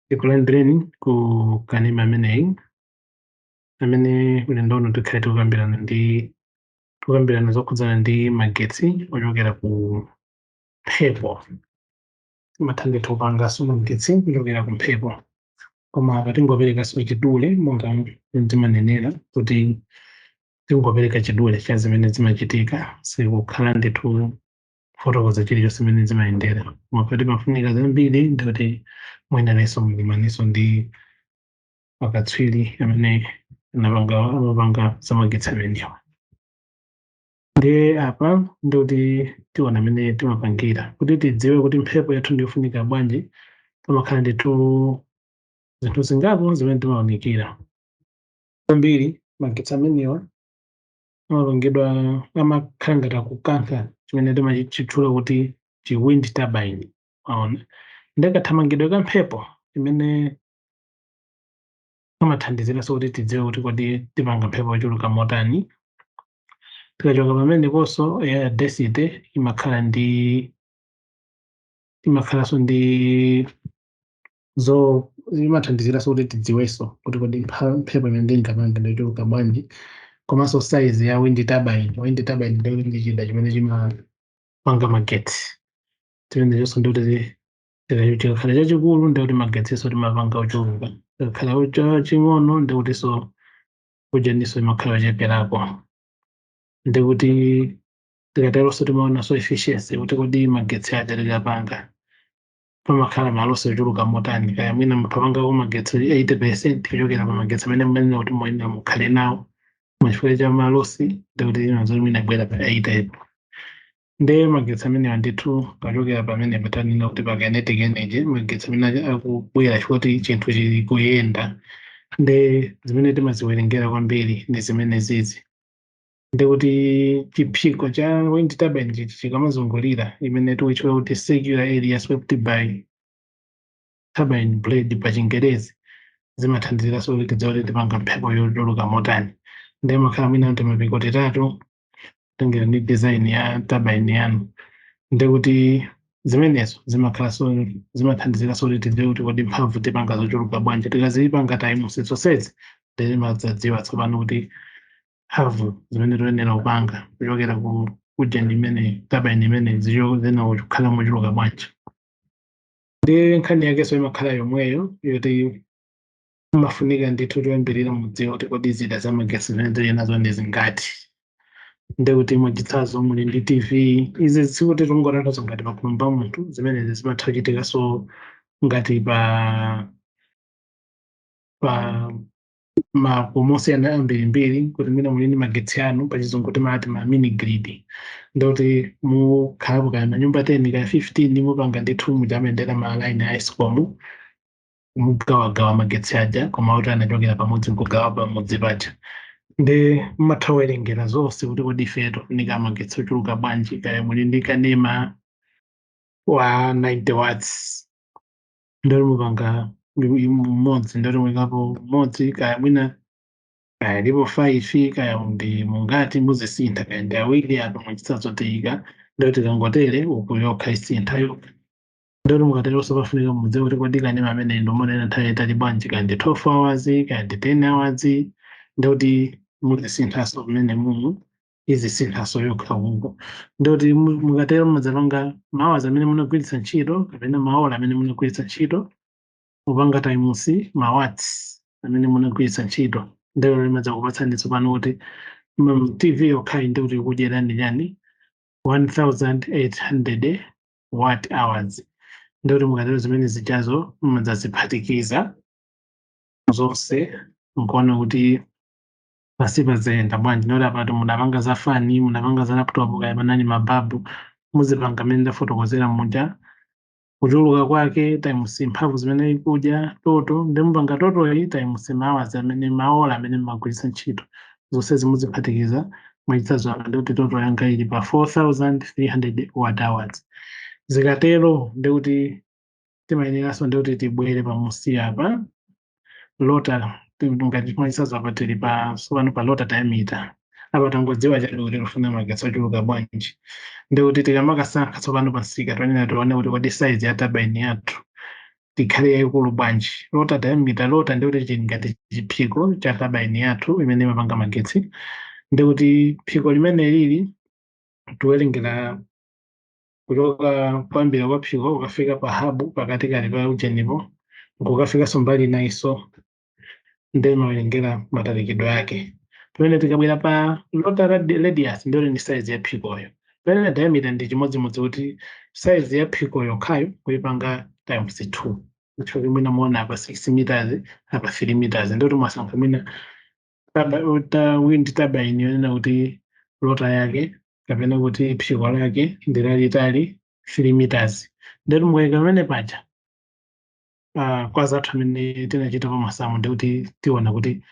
tikulandireni ku kanema ameneyi amene ulendo uno tikhale tikukambirana ndi tikukambirana zokhudzana ndi magetsi ochokera ku mphepo timatha ndithu kupanganso magetsi kuchokera ku mphepo koma apa tingoperekanso chidule monga timanenera kuti tingopereka chidule cha zimene zimachitika sikukhala ndithu kufotokoza chilichonse zimene zimayendera koma poti pafunika zambiri ndikuti muyeneranso mukumanenso ndi akatswiri amene anapanga amapanga zamagetsi amenewa ndiye apa ndikuti tiona mmene timapangira kuti tidziwe kuti mphepo yathu ndiyofunika bwanji pamakhala ndithu zinthu zingapo zimene timaunikira Kwambiri magetsi amenewa amalongedwa amakhala ngati akukankha chimene timachitchula kuti chi wind turbine aona ndi kathamangidwe ka mphepo imene amathandiziranso kuti tidziwe kuti kodi tipanga mphepo yochuluka motani tikachoka pameneponso air density imakhala ndi imakhalanso ndi zo imathandiziraso kuti tidziweso kuti kodi mpha- mphepo imene tingapange ndi yochuluka bwanji komanso size ya wind turbine wind turbine ndi ndi chida chimene chimapanga magetsi chimenechonso ndi kuti chida- chikakhala chachikulu ndi kuti magetsinso timapanga ochuluka chikakhala chaching'ono ndi kutinso ujaniso imakhala yocheperako ndi kuti tikateronso timaonanso efficiency kuti kodi magetsi aja tikapanga pamakhala malosi ochuluka motani kaya mwina mupangako magetsi 80 percent kuchokera pa magetsi amene mumanena kuti muyenera mukhale nawo machifukwa cha malosi ndikuti inazoti mwina kubwera pa 80 nde magetsi amenewa ndithu achokera pamene patanena kuti pa kinetic energy magetsi amene aja- akubwera chifukwa kuti chinthu chili kuyenda nde zimene timaziwerengera kwambiri ndi zimene zizi ndi kuti chiphiko cha wind turbine chichi chikamazungulira imene tikuitchula kuti circular area swept by turbine blade pa chingerezi zimathandiziraso kuti tidziwe kuti tipanga mphepo yochuluka motani nde amakhala mwina kuti mapiko atatu kutengera ndi design ya turbine yanu ndi kuti zimenezo zimakhalaso zimathandiziraso kuti tidziwe kuti kodi mphamvu tipanga zochuluka bwanji tikazipanga times zonsezi timadzadziwa tsopano kuti mphamvu zimene toyenera kupanga kuchokera ku ujeni imene turbine imene zizikhala mochuluka bwanji ndi nkhani yakenso imakhala yomweyo yoti imafunika ndithu choyambirira mudziwa kuti kodi zida za magetsi zimene tili nazo ndi zingati ndekuti mwachitsanzo muli ndi tv izi sikuti tingotanthauza ngati pakhomo pa munthu zimenezi zimatha kuchitikanso ngati pa pa makomo ambirimbiri kuti mwina muli ndi magetsi anu pachizungu timati ma mini grid ndekuti mukhalapo kaya manyumba 10 kaya 15 mupanga ndithu muja amayendera ma line a escom mugawagawa magetsi aja koma kuti amachokera pamodzi nkugawa pamodzi paja nde mumatha kuwerengera zonse kuti kodi ife tikufunika magetsi ochuluka bwanji kaya muli ndi kanema wa 90 watts ndekuti mupanga mmodzi ndekuti muikapo mmodzi kaya mwina kaya alipo faifi kaya ndi angati muzisintha kaya ndi awiri apa mwachitsanzo tiyika ndekuti tikangotere uku yokha isintha yokha ndekuti mukateronso pafunika mudziwe kuti kodi kanema ameneyo mumaonera nthawi yaitali bwanji kaya ndi 12 hours kaya ndi 10 hours ndekuti muzisinthanso pamene mumu izisinthanso yokha uko ndekuti mu- mukatero mumadzalonga mahours amene munagwiritsa ntchito kapena maola amene munagwiritsa ntchito mupanga times mawatts amene munagwiritsa ntchito nde imadzakupatsani tsopano kuti mm, tv yokhayi ndekuti ikudyerani chani 1800 watt hours ndekuti mukatero zimene zijazo mumadzaziphatikiza zonse nkuona kuti pansipa zayenda bwanji ndekuti apatu mudapanga za fani mudapanga za laptop kaya panali mababu muzipanga mmene ndafotokozera muja kuchuluka kwake times mphamvu zimene ikudya total nde mupanga total-yi times mahours amene maola amene mumagwiritsa ntchito zonsezi muziphatikiza mwachitsanzo apa ndekuti total yanga ili pa 4300 watt hours zikatero ndekuti timayeneranso ndekuti tibwere pamunsi apa rotor ti- ngati mwachitsanzo apa tili pa tsopano pa rotor diameter apa tangodziwa chabe kuti tifuna magetsi ochuluka bwanji ndekuti tikamakasankha tsopano pa msika tiyenera tione kuti kodi size ya turbine yathu ikhale yayikulu bwanji rotor diameter rotor ndekuti chili ngati chiphiko cha turbine yathu imene imapanga magetsi ndekuti phiko limene lili tiwerengera kuchoka kuyambira kwa phiko kukafika pa habu pakatikati pa ujenipo nkukafikanso mbali inayinso nde timawerengera matalikidwe ake pamene tikabwera pa rotor radi- radius ndiyeno ndi saizi ya phikoyo pamene diameter ndi chimodzimodzi kuti saizi ya phikoyo yokhayo kuipanga times 2 nchifukwa mwina muona apa 6 meters apa 3 meters ndekuti mwasankha mwina turbine yonena kuti rotor yake kapena kuti phiko lake ndi lalitali 3 meters ndeti mukaika pamene paja ah, kwa anzathu amene tinachita pa masamu ndi kuti tiona kuti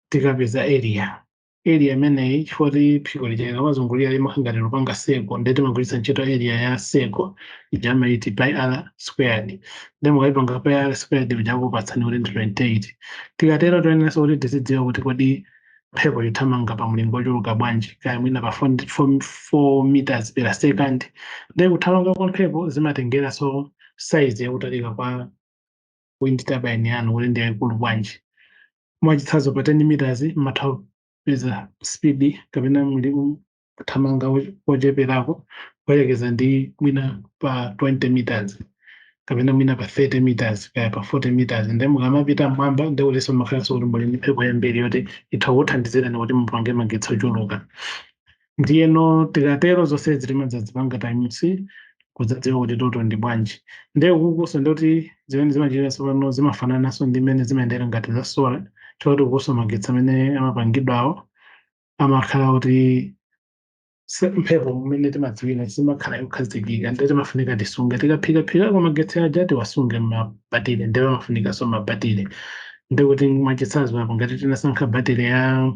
tikapeza area area imeneyi chifukwa ti phiko lija likamazungulira limakhala ngati likupanga circle ndeti timagwiritsa ntchito area ya circle ija amati pi r squared nde mukayipanga pi r squared ija ikupatsani kuti ndi 28 tikatero toyeneranso kuti tizidziwa kuti kodi mphepo ithamanga pa mlingo wochuluka bwanji kaya mwina pa 4 meters per second nde kuthamanga kwa mphepo zimatengeranso size yakutalika kwa wind turbine yanu kuti ndi yayikulu bwanji mwachitsanzo pa 10 meters mmatha kupeza speed kapena muli- kuthamanga kocheperako kuyerekeza ndi mwina pa 20 meters kapena mwina pa 30 meters kaya pa 40 meters nde mukamapita mmwamba nde kutinso mumakhalanso kuti muli ndi mphepo yambiri yoti itha kukuthandizirani kuti mupange magetsi ochuluka ndiyeno tikatero zonse timadzazipanga times kudzadziwa kuti total ndi bwanji nde ukukunso ndoti zimene zimachitika tsopano zimafanananso ndi mmene zimayendera ngati za solar choti ukunso magetsi amene amapangidwawo amakhala kuti mphepo mmene timadziwira siimakhala yokhazikika ndiye timafunika tisunge tikaphikaphikako magetsi aja tiwasunge mmabatire ndiye amafunikanso mabatire ndi kuti mwachitsanzo apo ngati tinasankha batire ya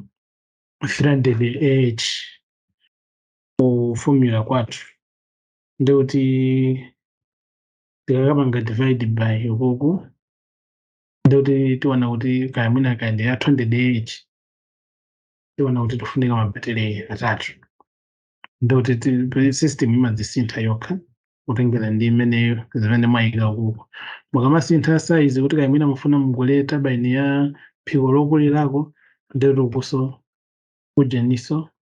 300 ah ku formula kwathu ndi kuti tikakapanga divide by ukuku ndi kuti tiona kuti kaya mwina kaya ndi ya 200 ah tiona kuti tifunika mabatire atatu ndi kuti system imadzisintha yokha kutengera ndi imeneyo zimene mwayika kuko mukamasintha size kuti kaya mwina mufuna mugule turbine ya phiko lokulirako ndikuti ukunso kujeninso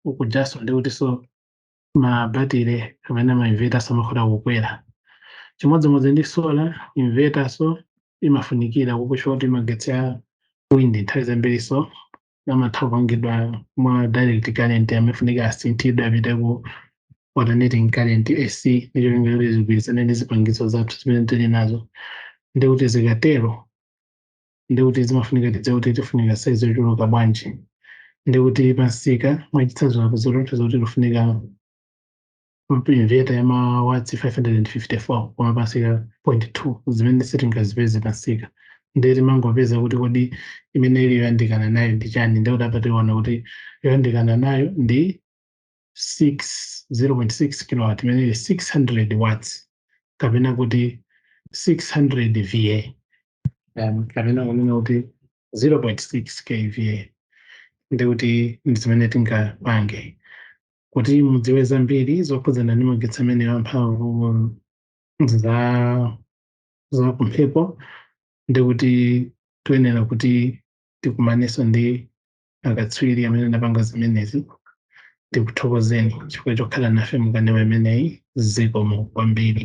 ukujanso ndikutinso mabatire kapena ma inverternso amakhoza kukwera chimodzimodzi ndi solar inverternso imafunikira ukukunso oti magetsi a wind nthawi zambirinso amatha kupangidwa mwa direct current amafunika asinthidwe apite ku alternating current AC ndi cholinga kuti zigwirizane ndi zipangizo zathu zimene tili nazo ndi kuti zikatero ndikuti zimafunika tidziwe kuti tifunika saizi yochuluka bwanji ndikuti pamsika mwachitsanzo apo zikutionetsa kuti tifunika inverter yamawatsi 554 koma pamsika 0.2 zimene sitingazipeze pamsika ndiye timangopeza kuti kodi imene ili yoyandikana nayo ndi chani ndikuti apa tiona kuti yoyandikana nayo ndi 6 0.6 kilowatt imene ili 600 watts kapena kuti 600 va kapena kunena kuti 0.6 kva ndi kuti ndi zimene tingapange kuti mudziwe zambiri zokhudzana ndi magetsi amene amphamvu za kumphepo ndi kuti tuyenera kuti tikumanenso ndi akatswiri amene anapanga zimenezi tikuthokozeni chifukwa chokhala nafe mukanema imeneyi zikomo kwambiri